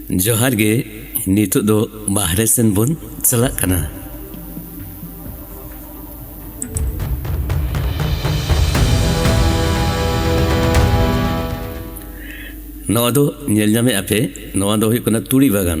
ᱡᱚᱦᱟᱨ ᱜᱮ ᱱᱤᱛᱚᱜ ᱫᱚ ᱵᱟᱦᱨᱮ ᱥᱮᱱ ᱵᱚᱱ ᱪᱟᱞᱟᱜ ᱠᱟᱱᱟ ᱱᱚᱣᱟ ᱫᱚ ᱧᱮᱞ ᱧᱟᱢᱮᱫ ᱟᱯᱮ ᱱᱚᱣᱟ ᱫᱚ ᱦᱩᱭᱩᱜ ᱠᱟᱱᱟ ᱛᱩᱲᱤ ᱵᱟᱜᱟᱱ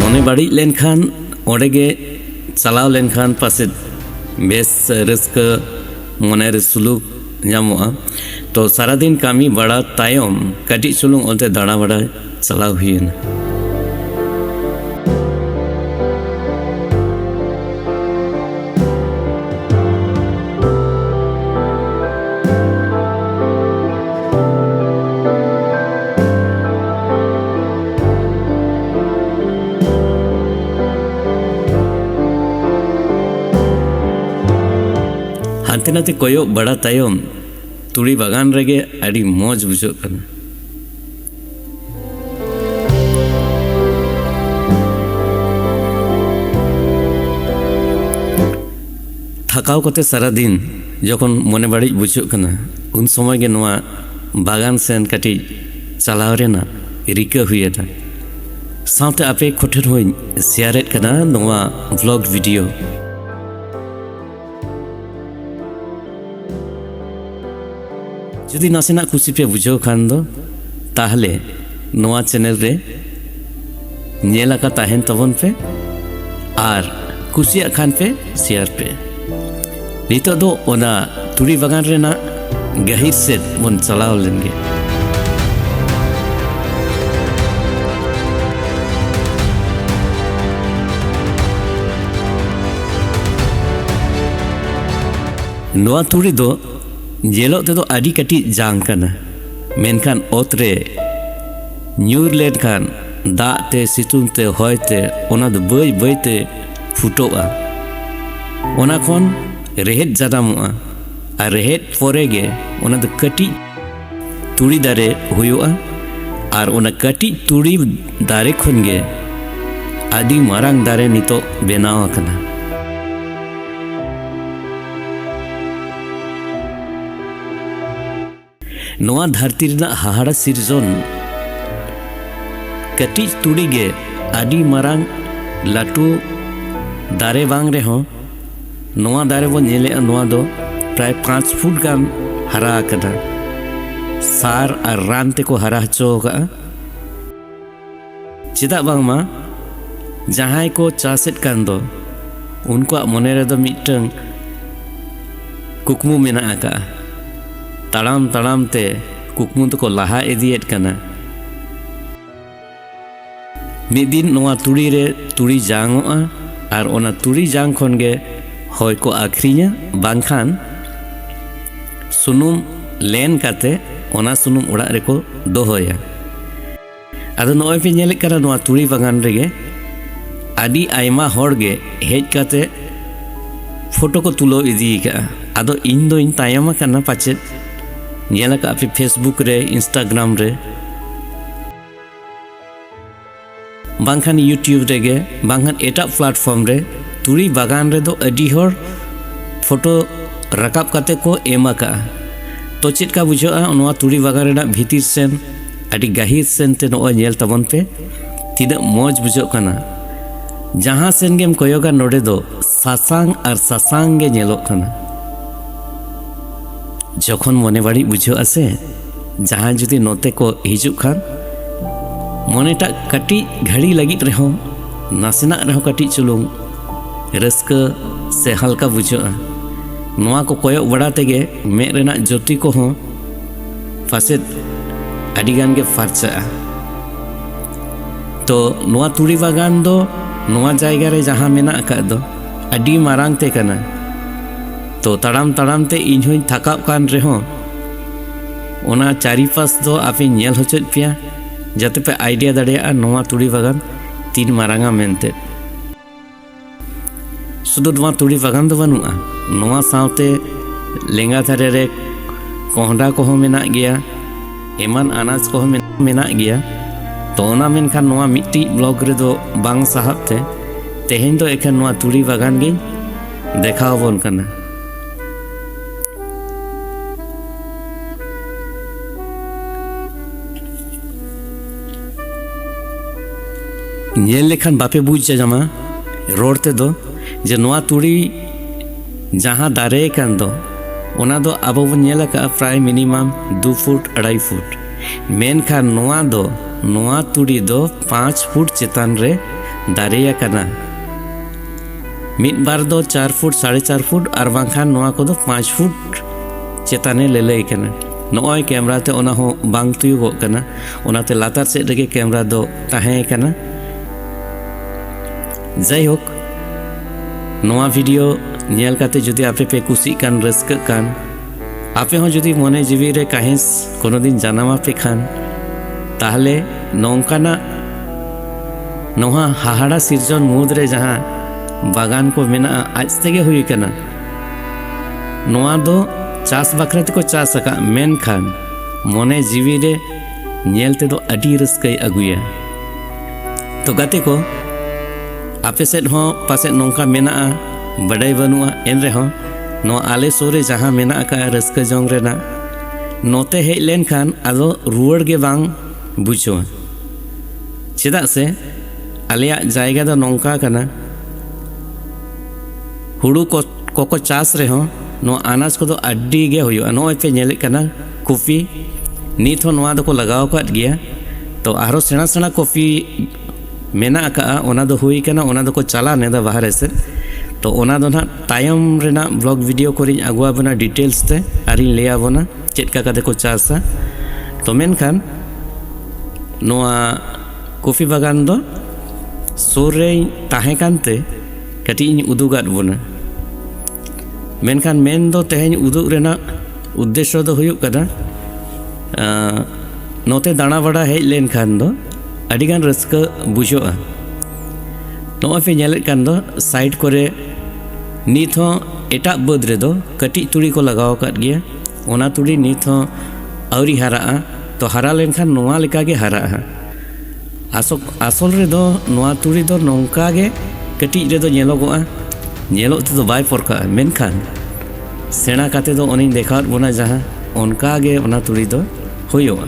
ᱢᱚᱱᱮ ᱵᱟᱹᱲᱤᱡ ᱞᱮᱱᱠᱷᱟᱱ ᱚᱸᱰᱮ ᱜᱮ ᱪᱟᱞᱟᱣ ᱞᱮᱱᱠᱷᱟᱱ ᱯᱟᱥᱮᱡ ᱵᱮᱥ ᱨᱟᱹᱥᱠᱟᱹ ᱢᱚᱱᱮ ᱨᱮ ᱥᱩᱞᱩᱠ ᱧᱟᱢᱚᱜᱼᱟ ᱛᱚ ᱥᱟᱨᱟᱫᱤᱱ ᱠᱟᱹᱢᱤ ᱵᱟᱲᱟ ᱛᱟᱭᱚᱢ ᱠᱟᱹᱴᱤᱡ ᱪᱩᱞᱩᱝ ᱚᱱᱛᱮ ᱫᱟᱬᱟ ᱵᱟᱲᱟᱭ Salau Hien. ᱦᱟᱱᱛᱮ ᱱᱟᱛᱮ ᱠᱚᱭᱚᱜ ᱵᱟᱲᱟ ᱛᱟᱭᱚᱢ ᱛᱩᱲᱤ ᱵᱟᱜᱟᱱ ᱨᱮᱜᱮ ᱟᱹᱰᱤ ᱢᱚᱡᱽ ᱵᱩᱡᱷᱟᱹᱜ ᱠᱟᱱᱟ ᱛᱷᱟᱠᱟᱣ ᱠᱟᱛᱮ ᱥᱟᱨᱟ ᱫᱤᱱ ᱡᱚᱠᱷᱚᱱ ᱢᱚᱱᱮ ᱵᱟᱹᱲᱤᱡ ᱵᱩᱡᱷᱟᱹᱜ ᱠᱟᱱᱟ ᱩᱱ ᱥᱚᱢᱚᱭ ᱜᱮ ᱱᱚᱣᱟ ᱵᱟᱜᱟᱱ ᱥᱮᱱ ᱠᱟᱹᱴᱤᱡ ᱪᱟᱞᱟᱣ ᱨᱮᱱᱟᱜ ᱨᱤᱠᱟᱹ ᱦᱩᱭᱮᱱᱟ ᱥᱟᱶᱛᱮ ᱟᱯᱮ ᱠᱚᱴᱷᱮᱱ ᱦᱚᱸᱧ ᱥᱮᱭᱟᱨᱮᱫ ᱠᱟᱱᱟ ᱱᱚᱣᱟ ᱵᱷᱞᱚᱜ ᱵᱷᱤᱰᱤᱭᱳ ᱡᱩᱫᱤ ᱱᱟᱥᱮᱱᱟᱜ ᱠᱩᱥᱤ ᱯᱮ ᱵᱩᱡᱷᱟᱹᱣ ᱠᱷᱟᱱ ᱫᱚ ᱛᱟᱦᱞᱮ ᱱᱚᱣᱟ ᱪᱮᱱᱮᱞ ᱨᱮ ᱧᱮᱞ ᱟᱠᱟ ᱛᱟᱦᱮᱱ ᱛᱟᱵᱚᱱ ᱯᱮ ᱟᱨ ᱠᱩᱥᱤᱭᱟᱜ ᱠᱷᱟᱱ ᱯᱮ ᱥᱮᱭᱟᱨ ᱯᱮ ᱱᱤᱛᱚᱜ ᱫᱚ ᱚᱱᱟ ᱛᱩᱲᱤ ᱵᱟᱜᱟᱱ ᱨᱮᱱᱟᱜ ᱜᱟᱹᱦᱤᱨ ᱥᱮᱫ ᱵᱚᱱ ᱪᱟᱞᱟᱣ ᱞᱮᱱ ᱜᱮ ᱱᱚᱣᱟ ᱛᱩᱲᱤ ᱫᱚ ᱧᱮᱞᱚᱜ ᱛᱮᱫᱚ ᱟᱹᱰᱤ ᱠᱟᱹᱴᱤᱡ ᱡᱟᱝ ᱠᱟᱱᱟ ᱢᱮᱱᱠᱷᱟᱱ ᱚᱛ ᱨᱮ ᱧᱩᱨ ᱞᱮᱱᱠᱷᱟᱱ ᱫᱟᱜ ᱛᱮ ᱥᱤᱛᱩᱝ ᱛᱮ ᱦᱚᱭ ᱛᱮ ᱚᱱᱟ ᱫᱚ ᱵᱟᱹᱭ ᱵᱟᱹᱭ ᱛᱮ ᱯᱷᱩᱴᱚᱜᱼᱟ ᱚᱱᱟ ᱠᱷᱚᱱ ᱨᱮᱦᱮᱫ ᱡᱟᱱᱟᱢᱚᱜᱼᱟ ᱟᱨ ᱨᱮᱦᱮᱫ ᱯᱚᱨᱮ ᱜᱮ ᱚᱱᱟ ᱫᱚ ᱠᱟᱹᱴᱤᱡ ᱛᱩᱲᱤ ᱫᱟᱨᱮ ᱦᱩᱭᱩᱜᱼᱟ ᱟᱨ ᱚᱱᱟ ᱠᱟᱹᱴᱤᱡ ᱛᱩᱲᱤ ᱫᱟᱨᱮ ᱠᱷᱚᱱ ᱜᱮ ᱟᱹᱰᱤ ᱢᱟᱨᱟᱝ ᱫᱟᱨᱮ ᱱᱤᱛᱚᱜ ᱵᱮᱱᱟᱣ ᱟᱠᱟᱱᱟ ᱱᱚᱣᱟ ᱫᱷᱟᱹᱨᱛᱤ ᱨᱮᱱᱟᱜ ᱦᱟᱦᱟᱲᱟ ᱥᱤᱨᱡᱚᱱ ᱠᱟᱹᱴᱤᱡ ᱛᱩᱲᱤ ᱜᱮ ᱟᱹᱰᱤ ᱢᱟᱨᱟᱝ ᱞᱟᱹᱴᱩ ᱫᱟᱨᱮ ᱵᱟᱝ ᱨᱮᱦᱚᱸ ᱱᱚᱣᱟ ᱫᱟᱨᱮ ᱵᱚᱱ ᱧᱮᱞᱮᱫᱼᱟ ᱱᱚᱣᱟ ᱫᱚ ᱯᱨᱟᱭ ᱯᱟᱸᱪ ᱯᱷᱩᱴ ᱜᱟᱱ ᱦᱟᱨᱟ ᱟᱠᱟᱱᱟ ᱥᱟᱨ ᱟᱨ ᱨᱟᱱ ᱛᱮᱠᱚ ᱦᱟᱨᱟ ᱦᱚᱪᱚ ᱟᱠᱟᱫᱼᱟ ᱪᱮᱫᱟᱜ ᱵᱟᱝᱢᱟ ᱡᱟᱦᱟᱸᱭ ᱠᱚ ᱪᱟᱥᱮᱫ ᱠᱟᱱ ᱫᱚ ᱩᱱᱠᱩᱣᱟᱜ ᱢᱚᱱᱮ ᱨᱮᱫᱚ ᱢᱤᱫᱴᱟᱝ ᱠᱩᱠᱢᱩ ᱢᱮᱱᱟᱜ ᱟᱠᱟᱜᱼᱟ ᱛᱟᱲᱟᱢ ᱛᱟᱲᱟᱢ ᱛᱮ ᱠᱩᱠᱢᱩ ᱫᱚᱠᱚ ᱞᱟᱦᱟ ᱤᱫᱤᱭᱮᱫ ᱠᱟᱱᱟ ᱢᱤᱫ ᱫᱤᱱ ᱱᱚᱣᱟ ᱛᱩᱲᱤ ᱨᱮ ᱛᱩᱲᱤ ᱡᱟᱝᱚᱜᱼᱟ ᱟᱨ ᱚᱱᱟ ᱛᱩᱲᱤ ᱡᱟᱝ ᱠᱷᱚᱱ ᱜᱮ ᱦᱚᱭ ᱠᱚ ᱟᱹᱠᱷᱨᱤᱧᱟ ᱵᱟᱝᱠᱷᱟᱱ ᱥᱩᱱᱩᱢ ᱞᱮᱱ ᱠᱟᱛᱮ ᱚᱱᱟ ᱥᱩᱱᱩᱢ ᱚᱲᱟᱜ ᱨᱮᱠᱚ ᱫᱚᱦᱚᱭᱟ ᱟᱫᱚ ᱱᱚᱜᱼᱚᱭ ᱯᱮ ᱧᱮᱞᱮᱫ ᱠᱟᱱᱟ ᱱᱚᱣᱟ ᱛᱩᱲᱤ ᱵᱟᱜᱟᱱ ᱨᱮᱜᱮ ᱟᱹᱰᱤ ᱟᱭᱢᱟ ᱦᱚᱲ ᱜᱮ ᱦᱮᱡ ᱠᱟᱛᱮ ᱯᱷᱳᱴᱳ ᱠᱚ ᱛᱩᱞᱟᱹᱣ ᱤᱫᱤ ᱠᱟᱜᱼᱟ ᱟᱫᱚ ᱤᱧ ᱫᱚᱧ ᱛᱟᱭᱚᱢ ᱟᱠᱟᱱᱟ ᱯᱟᱪᱮᱫ ᱧᱮᱞ ᱟᱠᱟᱫ ᱯᱮ ᱯᱷᱮᱥᱵᱩᱠ ᱨᱮ ᱤᱱᱥᱴᱟᱜᱨᱟᱢ ᱨᱮ ᱵᱟᱝᱠᱷᱟᱱ ᱤᱭᱩᱴᱤᱭᱩᱵᱽ ᱨᱮᱜᱮ ᱵᱟᱝᱠᱷᱟᱱ ᱮᱴᱟᱜ ᱯᱞᱟᱴᱯᱷᱚᱨᱢ ᱨᱮ ᱛᱩᱲᱤ ᱵᱟᱜᱟᱱ ᱨᱮᱫᱚ ᱟᱹᱰᱤ ᱦᱚᱲ ᱯᱷᱳᱴᱳ ᱨᱟᱠᱟᱵ ᱠᱟᱛᱮ ᱠᱚ ᱮᱢ ᱟᱠᱟᱜᱼᱟ ᱛᱚ ᱪᱮᱫ ᱞᱮᱠᱟ ᱵᱩᱡᱷᱟᱹᱜᱼᱟ ᱱᱚᱣᱟ ᱛᱩᱲᱤ ᱵᱟᱜᱟᱱ ᱨᱮᱱᱟᱜ ᱵᱷᱤᱛᱤᱨ ᱥᱮᱱ ᱟᱹᱰᱤ ᱜᱟᱹᱦᱤᱨ ᱥᱮᱱᱛᱮ ᱱᱚᱜᱼᱚᱭ ᱧᱮᱞ ᱛᱟᱵᱚᱱ ᱯᱮ ᱛᱤᱱᱟᱹᱜ ᱢᱚᱡᱽ ᱵᱩᱡᱷᱟᱹᱜ ᱠᱟᱱᱟ ᱡᱟᱦᱟᱸ ᱥᱮᱱ ᱜᱮᱢ ᱠᱚᱭᱚᱜᱟ ᱱᱚᱰᱮ ᱫᱚ ᱥᱟᱥᱟᱝ ᱟᱨ ᱥᱟᱥᱟᱝ ᱜᱮ ᱧᱮᱞᱚᱜ ᱠᱟᱱᱟ ᱡᱚᱠᱷᱚᱱ ᱢᱚᱱᱮ ᱵᱟᱹᱲᱤᱡ ᱵᱩᱡᱷᱟᱹᱜᱼᱟ ᱥᱮ ᱡᱟᱦᱟᱸᱭ ᱡᱩᱫᱤ ᱱᱚᱛᱮ ᱠᱚ ᱦᱤᱡᱩᱜ ᱠᱷᱟᱱ ᱢᱚᱱᱮᱴᱟᱜ ᱠᱟᱹᱴᱤᱡ ᱜᱷᱟᱹᱲᱤ ᱞᱟᱹᱜᱤᱫ ᱨᱮᱦᱚᱸ ᱱᱟᱥᱮᱱᱟᱜ ᱨᱮᱦᱚᱸ ᱠᱟᱹᱴᱤᱡ ᱪᱩᱞᱩᱝ ᱨᱟᱹᱥᱠᱟᱹ ᱥᱮ ᱦᱟᱞᱠᱟ ᱵᱩᱡᱷᱟᱹᱜᱼᱟ ᱱᱚᱣᱟ ᱠᱚ ᱠᱚᱭᱚᱜ ᱵᱟᱲᱟ ᱛᱮᱜᱮ ᱢᱮᱫ ᱨᱮᱱᱟᱜ ᱡᱳᱛᱤ ᱠᱚᱦᱚᱸ ᱯᱟᱥᱮᱫ ᱟᱹᱰᱤᱜᱟᱱ ᱜᱮ ᱯᱷᱟᱨᱪᱟᱜᱼᱟ ᱛᱚ ᱱᱚᱣᱟ ᱛᱩᱲᱤ ᱵᱟᱜᱟᱱ ᱫᱚ ᱱᱚᱣᱟ ᱡᱟᱭᱜᱟ ᱨᱮ ᱡᱟᱦᱟᱸ ᱢᱮᱱᱟᱜ ᱟᱠᱟᱫ ᱫᱚ ᱟᱹᱰᱤ ᱢᱟᱨᱟᱝ ᱛᱮ ᱠᱟᱱᱟ ᱛᱚ ᱛᱟᱲᱟᱢ ᱛᱟᱲᱟᱢ ᱛᱮ ᱤᱧ ᱦᱚᱧ ᱛᱷᱟᱠᱟᱜ ᱠᱟᱱ ᱨᱮᱦᱚᱸ ᱚᱱᱟ ᱪᱟᱨᱤᱯᱟᱥ ᱫᱚ ᱟᱯᱮ ᱧᱮᱞ ᱦᱚᱪᱚᱭᱮᱫ ᱯᱮᱭᱟ ᱡᱟᱛᱮ ᱯᱮ ᱟᱭᱰᱤᱭᱟ ᱫᱟᱲᱮᱭᱟᱜᱼᱟ ᱱᱚᱣᱟ ᱛᱩᱲᱤ ᱵᱟᱜᱟᱱ ᱛᱤᱱ ᱢᱟᱨᱟᱝᱟ ᱢᱮᱱᱛᱮ ᱥᱩᱫᱩ ᱱᱚᱣᱟ ᱛᱩᱲᱤ ᱵᱟᱜᱟᱱ ᱫᱚ ᱵᱟᱹᱱᱩᱜᱼᱟ ᱱᱚᱣᱟ ᱥᱟᱶᱛᱮ ᱞᱮᱸᱜᱟ ᱫᱷᱟᱨᱮ ᱨᱮ ᱠᱚᱸᱦᱰᱟ ᱠᱚᱦᱚᱸ ᱢᱮᱱᱟᱜ ᱜᱮᱭᱟ ᱮᱢᱟᱱ ᱟᱱᱟᱡᱽ ᱠᱚᱦᱚᱸ ᱢᱮᱱᱟᱜ ᱜᱮᱭᱟ ᱛᱚ ᱚᱱᱟ ᱢᱮᱱᱠᱷᱟᱱ ᱱᱚᱣᱟ ᱢᱤᱫᱴᱤᱡ ᱵᱞᱚᱜ ᱨᱮᱫᱚ ᱵᱟᱝ ᱥᱟᱦᱟᱵ ᱛᱮ ᱛᱮᱦᱮᱧ ᱫᱚ ᱮᱠᱷᱟᱱ ᱱᱚᱣᱟ ᱛᱩᱲᱤ ᱵᱟᱜᱟᱱ ᱜᱤᱧ ᱫᱮᱠᱷᱟᱣ ᱟᱵᱚᱱ ᱠᱟᱱᱟ ᱧᱮᱞ ᱞᱮᱠᱷᱟᱱ ᱵᱟᱯᱮ ᱵᱩᱡᱽ ᱧᱟᱢᱟ ᱨᱚᱲ ᱛᱮᱫᱚ ᱡᱮ ᱱᱚᱣᱟ ᱛᱩᱲᱤ ᱡᱟᱦᱟᱸ ᱫᱟᱨᱮ ᱠᱟᱱ ᱫᱚ ᱚᱱᱟ ᱫᱚ ᱟᱵᱚ ᱵᱚᱱ ᱧᱮᱞ ᱟᱠᱟᱫᱼᱟ ᱯᱨᱟᱭ ᱢᱤᱱᱤᱢᱟᱢ ᱫᱩ ᱯᱷᱩᱴ ᱟᱲᱟᱭ ᱯᱷᱩᱴ ᱢᱮᱱᱠᱷᱟᱱ ᱱᱚᱣᱟ ᱫᱚ ᱱᱚᱣᱟ ᱛᱩᱲᱤ ᱫᱚ ᱯᱟᱸᱪ ᱯᱷᱩᱴ ᱪᱮᱛᱟᱱ ᱨᱮ ᱫᱟᱨᱮ ᱟᱠᱟᱱᱟ ᱢᱤᱫ ᱵᱟᱨ ᱫᱚ ᱪᱟᱨ ᱯᱷᱩᱴ ᱥᱟᱲᱮ ᱪᱟᱨ ᱯᱷᱩᱴ ᱟᱨ ᱵᱟᱝᱠᱷᱟᱱ ᱱᱚᱣᱟ ᱠᱚᱫᱚ ᱯᱟᱸᱪ ᱯᱷᱩᱴ ᱪᱮᱛᱟᱱᱮ ᱞᱟᱹᱞᱟᱹᱭ ᱠᱟᱱᱟ ᱱᱚᱜᱼᱚᱭ ᱠᱮᱢᱨᱟ ᱛᱮ ᱚᱱᱟ ᱦᱚᱸ ᱵᱟᱝ ᱛᱩᱭᱩᱜᱚᱜ ᱠᱟᱱᱟ ᱚᱱᱟᱛᱮ ᱞᱟᱛᱟᱨ ᱥᱮᱫ ᱨᱮᱜᱮ ᱠᱮᱢᱨᱟ ᱫᱚ ᱛᱟᱦᱮᱸ ᱠᱟᱱᱟ ᱡᱟᱭᱦᱳᱠ ᱱᱚᱣᱟ ᱵᱷᱤᱰᱤᱭᱳ ᱧᱮᱞ ᱠᱟᱛᱮ ᱡᱩᱫᱤ ᱟᱯᱮ ᱯᱮ ᱠᱩᱥᱤᱜ ᱠᱟᱱ ᱨᱟᱹᱥᱠᱟᱹᱜ ᱠᱟᱱ ᱟᱯᱮ ᱦᱚᱸ ᱡᱩᱫᱤ ᱢᱚᱱᱮ ᱡᱤᱣᱤ ᱨᱮ ᱠᱟᱹᱦᱤᱥ ᱠᱳᱱᱳ ᱫᱤᱱ ᱡᱟᱱᱟᱢ ᱟᱯᱮ ᱠᱷᱟᱱ ᱛᱟᱦᱞᱮ ᱱᱚᱝᱠᱟᱱᱟᱜ ᱱᱚᱣᱟ ᱦᱟᱦᱟᱲᱟ ᱥᱤᱨᱡᱚᱱ ᱢᱩᱫᱽ ᱨᱮ ᱡᱟᱦᱟᱸ ᱵᱟᱜᱟᱱ ᱠᱚ ᱢᱮᱱᱟᱜᱼᱟ ᱟᱡ ᱛᱮᱜᱮ ᱦᱩᱭ ᱠᱟᱱᱟ ᱱᱚᱣᱟ ᱫᱚ ᱪᱟᱥ ᱵᱟᱠᱷᱨᱟ ᱛᱮᱠᱚ ᱪᱟᱥ ᱟᱠᱟᱫ ᱢᱮᱱᱠᱷᱟᱱ ᱢᱚᱱᱮ ᱡᱤᱣᱤ ᱨᱮ ᱧᱮᱞ ᱛᱮᱫᱚ ᱟᱹᱰᱤ ᱨᱟᱹᱥᱠᱟᱹᱭ ᱟᱹᱜᱩᱭᱟ ᱛᱚ ᱜᱟᱛᱮ ᱠᱚ ᱟᱯᱮ ᱥᱮᱫ ᱦᱚᱸ ᱯᱟᱥᱮᱡ ᱱᱚᱝᱠᱟ ᱢᱮᱱᱟᱜᱼᱟ ᱵᱟᱰᱟᱭ ᱵᱟᱹᱱᱩᱜᱼᱟ ᱮᱱ ᱨᱮᱦᱚᱸ ᱱᱚᱣᱟ ᱟᱞᱮ ᱥᱩᱨ ᱨᱮ ᱡᱟᱦᱟᱸ ᱢᱮᱱᱟᱜ ᱟᱠᱟᱫᱼᱟ ᱨᱟᱹᱥᱠᱟᱹ ᱡᱚᱝ ᱨᱮᱱᱟᱜ ᱱᱚᱛᱮ ᱦᱮᱡ ᱞᱮᱱᱠᱷᱟᱱ ᱟᱫᱚ ᱨᱩᱣᱟᱹᱲ ᱜᱮ ᱵᱟᱝ ᱵᱩᱡᱷᱟᱹᱣᱟ ᱪᱮᱫᱟᱜ ᱥᱮ ᱟᱞᱮᱭᱟᱜ ᱡᱟᱭᱜᱟ ᱫᱚ ᱱᱚᱝᱠᱟ ᱠᱟᱱᱟ ᱦᱩᱲᱩ ᱠᱚ ᱠᱚᱠᱚ ᱪᱟᱥ ᱨᱮᱦᱚᱸ ᱱᱚᱣᱟ ᱟᱱᱟᱡᱽ ᱠᱚᱫᱚ ᱟᱹᱰᱤ ᱜᱮ ᱦᱩᱭᱩᱜᱼᱟ ᱱᱚᱜᱼᱚᱭ ᱯᱮ ᱧᱮᱞᱮᱫ ᱠᱟᱱᱟ ᱠᱚᱯᱷᱤ ᱱᱤᱛ ᱦᱚᱸ ᱱᱚᱣᱟ ᱫᱚᱠᱚ ᱞᱟᱜᱟᱣ ᱟᱠᱟᱫ ᱜᱮᱭᱟ ᱛᱚ ᱟᱨᱦᱚᱸ ᱥᱮᱬᱟ ᱥᱮᱬᱟ ᱠᱚᱯᱷᱤ ᱢᱮᱱᱟᱜ ᱟᱠᱟᱫᱼᱟ ᱚᱱᱟ ᱫᱚ ᱦᱩᱭ ᱠᱟᱱᱟ ᱚᱱᱟ ᱫᱚᱠᱚ ᱪᱟᱞᱟᱣ ᱞᱮᱫᱟ ᱵᱟᱦᱨᱮ ᱥᱮᱫ ᱛᱚ ᱚᱱᱟ ᱫᱚ ᱱᱟᱦᱟᱜ ᱛᱟᱭᱚᱢ ᱨᱮᱱᱟᱜ ᱵᱞᱚᱜ ᱵᱷᱤᱰᱤᱭᱳ ᱠᱚᱨᱮᱧ ᱟᱹᱜᱩᱣᱟᱵᱚᱱᱟ ᱰᱤᱴᱮᱞᱥ ᱛᱮ ᱟᱨᱤᱧ ᱞᱟᱹᱭᱟᱵᱚᱱᱟ ᱪᱮᱫ ᱞᱮᱠᱟ ᱠᱟᱛᱮ ᱠᱚ ᱪᱟᱥᱟ ᱛᱚ ᱢᱮᱱᱠᱷᱟᱱ ᱱᱚᱣᱟ ᱠᱚᱯᱷᱤ ᱵᱟᱜᱟᱱ ᱫᱚ ᱥᱩᱨ ᱨᱮᱧ ᱛᱟᱦᱮᱸ ᱠᱟᱱᱛᱮ ᱠᱟᱹᱴᱤᱡ ᱤᱧ ᱩᱫᱩᱜᱟᱫ ᱵᱚᱱᱟ ᱢᱮᱱᱠᱷᱟᱱ ᱢᱮᱱ ᱫᱚ ᱛᱮᱦᱮᱧ ᱩᱫᱩᱜ ᱨᱮᱱᱟᱜ ᱩᱫᱽᱫᱮᱥᱥᱚ ᱫᱚ ᱦᱩᱭᱩᱜ ᱠᱟᱱᱟ ᱱᱚᱛᱮ ᱫᱟᱬᱟ ᱵᱟᱲᱟ ᱦᱮᱡ ᱞᱮᱱᱠᱷᱟᱱ ᱫᱚ ᱟᱹᱰᱤᱜᱟᱱ ᱨᱟᱹᱥᱠᱟᱹ ᱵᱩᱡᱷᱟᱹᱜᱼᱟ ᱱᱚᱜᱼᱚᱭ ᱯᱮ ᱧᱮᱞᱮᱫ ᱠᱟᱱ ᱫᱚ ᱥᱟᱭᱤᱰ ᱠᱚᱨᱮ ᱱᱤᱛ ᱦᱚᱸ ᱮᱴᱟᱜ ᱵᱟᱹᱫᱽ ᱨᱮᱫᱚ ᱠᱟᱹᱴᱤᱡ ᱛᱩᱲᱤ ᱠᱚ ᱞᱟᱜᱟᱣ ᱟᱠᱟᱫ ᱜᱮᱭᱟ ᱚᱱᱟ ᱛᱩᱲᱤ ᱱᱤᱛ ᱦᱚᱸ ᱟᱹᱣᱨᱤ ᱦᱟᱨᱟᱜᱼᱟ ᱛᱚ ᱦᱟᱨᱟ ᱞᱮᱱᱠᱷᱟᱱ ᱱᱚᱣᱟ ᱞᱮᱠᱟᱜᱮ ᱦᱟᱨᱟᱜᱼᱟ ᱟᱥᱚᱞ ᱟᱥᱚᱞ ᱨᱮᱫᱚ ᱱᱚᱣᱟ ᱛᱩᱲᱤ ᱫᱚ ᱱᱚᱝᱠᱟ ᱜᱮ ᱠᱟᱹᱴᱤᱡ ᱨᱮᱫᱚ ᱧᱮᱞᱚᱜᱚᱜᱼᱟ ᱧᱮᱞᱚᱜ ᱛᱮᱫᱚ ᱵᱟᱭ ᱯᱚᱨᱠᱟᱜᱼᱟ ᱢᱮᱱᱠᱷᱟᱱ ᱥᱮᱬᱟ ᱠᱟᱛᱮ ᱫᱚ ᱚᱱᱮᱧ ᱫᱮᱠᱷᱟᱣᱟᱫ ᱵᱚᱱᱟ ᱡᱟᱦᱟᱸ ᱚᱱᱠᱟ ᱜᱮ ᱚᱱᱟ ᱛᱩᱲᱤ ᱫᱚ ᱦᱩᱭᱩᱜᱼᱟ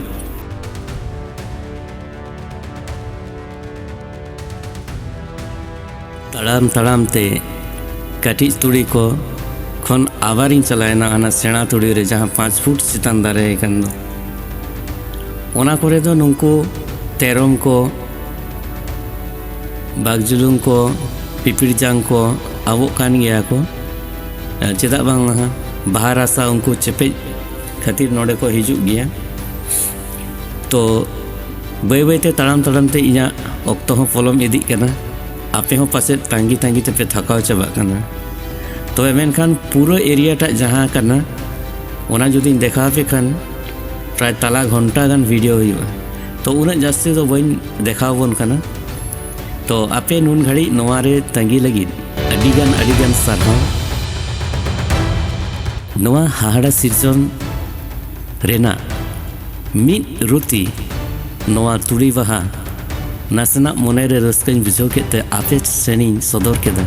ᱛᱟᱲᱟᱢ ᱛᱟᱲᱟᱢ ᱛᱮ ᱠᱟᱹᱴᱤᱡ ᱛᱩᱲᱤ ᱠᱚ ᱠᱷᱚᱱ ᱟᱵᱟᱨᱤᱧ ᱪᱟᱞᱟᱣᱮᱱᱟ ᱦᱟᱱᱟ ᱥᱮᱬᱟ ᱛᱩᱲᱤ ᱨᱮ ᱡᱟᱦᱟᱸ ᱯᱟᱸᱪ ᱯᱷᱩᱴ ᱪᱮᱛᱟᱱ ᱫᱟᱨᱮ ᱟᱠᱟᱱ ᱫᱚ ᱚᱱᱟ ᱠᱚᱨᱮ ᱫᱚ ᱱᱩᱠᱩ ᱛᱮᱨᱚᱢ ᱠᱚ ᱵᱟᱜᱽᱡᱩᱞᱩᱝ ᱠᱚ ᱯᱤᱯᱤᱲᱡᱟᱝ ᱠᱚ ᱟᱵᱚᱜ ᱠᱟᱱ ᱜᱮᱭᱟ ᱠᱚ ᱪᱮᱫᱟᱜ ᱵᱟᱝ ᱦᱟᱸᱜ ᱵᱟᱦᱟ ᱨᱟᱥᱟ ᱩᱱᱠᱩ ᱪᱮᱯᱮᱡ ᱠᱷᱟᱹᱛᱤᱨ ᱱᱚᱰᱮ ᱠᱚ ᱦᱤᱡᱩᱜ ᱜᱮᱭᱟ ᱛᱚ ᱵᱟᱹᱭ ᱵᱟᱹᱭᱛᱮ ᱛᱟᱲᱟᱢ ᱛᱟᱲᱟᱢᱛᱮ ᱤᱧᱟᱹᱜ ᱚᱠᱛᱚ ᱦᱚᱸ ᱯᱚᱞᱚᱢ ᱤᱫᱤᱜ ᱠᱟᱱᱟ ᱟᱯᱮ ᱦᱚᱸ ᱯᱟᱥᱮᱡ ᱛᱟᱸᱜᱤ ᱛᱟᱸᱜᱤ ᱛᱮᱯᱮ ᱛᱷᱟᱠᱟᱣ ᱪᱟᱵᱟᱜ ᱠᱟᱱᱟ ᱛᱚᱵᱮ ᱢᱮᱱᱠᱷᱟᱱ ᱯᱩᱨᱟᱹ ᱮᱨᱤᱭᱟ ᱴᱟᱜ ᱡᱟᱦᱟᱸ ᱠᱟᱱᱟ ᱚᱱᱟ ᱡᱩᱫᱤᱧ ᱫᱮᱠᱷᱟᱣ ᱯᱮ ᱠᱷᱟᱱ ᱯᱨᱟᱭ ᱛᱟᱞᱟ ᱜᱷᱚᱱᱴᱟ ᱜᱟᱱ ᱵᱷᱤᱰᱤᱭᱳ ᱦᱩᱭᱩᱜᱼᱟ ᱛᱚ ᱩᱱᱟᱹᱜ ᱡᱟᱹᱥᱛᱤ ᱫᱚ ᱵᱟᱹᱧ ᱫᱮᱠᱷᱟᱣ ᱵᱚᱱ ᱠᱟᱱᱟ ᱛᱚ ᱟᱯᱮ ᱱᱩᱱ ᱜᱷᱟᱹᱲᱤᱡ ᱱᱚᱣᱟ ᱨᱮ ᱛᱟᱸᱜᱤ ᱞᱟᱹᱜᱤᱫ ᱟᱹᱰᱤ ᱜᱟᱱ ᱟᱹᱰᱤ ᱜᱟᱱ ᱥᱟᱨᱦᱟᱣ ᱱᱚᱣᱟ ᱦᱟᱦᱟᱲᱟ ᱥᱤᱨᱡᱚᱱ ᱨᱮᱱᱟᱜ ᱢᱤᱫ ᱨᱩᱛᱤ ᱱᱚᱣᱟ ᱛᱩᱲᱤ ᱵᱟᱦᱟ ᱱᱟᱥᱮᱱᱟᱜ ᱢᱚᱱᱮᱨᱮ ᱨᱟᱹᱥᱠᱟᱹᱧ ᱵᱩᱡᱷᱟᱹᱣ ᱠᱮᱫ ᱛᱮ ᱟᱯᱮ ᱥᱮᱱᱤᱧ ᱥᱚᱫᱚᱨ ᱠᱮᱫᱟ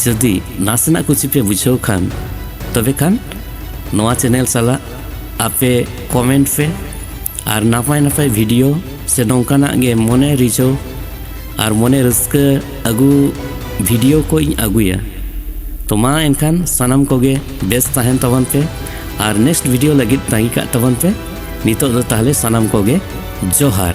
ᱡᱩᱫᱤ ᱱᱟᱥᱮᱱᱟᱜ ᱠᱩᱥᱤ ᱯᱮ ᱵᱩᱡᱷᱟᱹᱣ ᱠᱷᱟᱱ ᱛᱚᱵᱮ ᱠᱷᱟᱱ ᱱᱚᱣᱟ ᱪᱮᱱᱮᱞ ᱥᱟᱞᱟᱜ ᱟᱯᱮ ᱠᱚᱢᱮᱱᱴ ᱯᱮ ᱟᱨ ᱱᱟᱯᱟᱭ ᱱᱟᱯᱟᱭ ᱵᱷᱤᱰᱤᱭᱳ ᱥᱮ ᱱᱚᱝᱠᱟᱱᱟᱜ ᱜᱮ ᱢᱚᱱᱮ ᱨᱤᱡᱷᱟᱹᱣ ᱟᱨ ᱢᱚᱱᱮ ᱨᱟᱹᱥᱠᱟᱹ ᱟᱹᱜᱩ ᱵᱷᱤᱰᱤᱭᱳ ᱠᱚ ᱤᱧ ᱟᱹᱜᱩᱭᱟ ᱛᱚ ᱢᱟ ᱮᱱᱠᱷᱟᱱ ᱥᱟᱱᱟᱢ ᱠᱚᱜᱮ ᱵᱮᱥ ᱛᱟᱦᱮᱱ ᱛᱟᱵᱚᱱ ᱯᱮ ᱟᱨ ᱱᱮᱠᱥᱴ ᱵᱷᱤᱰᱤᱭᱳ ᱞᱟᱹᱜᱤᱫ ᱛᱟᱺᱜᱤ ᱠᱟᱜ ᱛᱟᱵᱚᱱ ᱯᱮ ᱱᱤᱛᱚᱜ ᱫᱚ ᱛᱟᱦᱞᱮ ᱥᱟᱱᱟᱢ ᱠᱚᱜᱮ ᱡᱚᱦᱟᱨ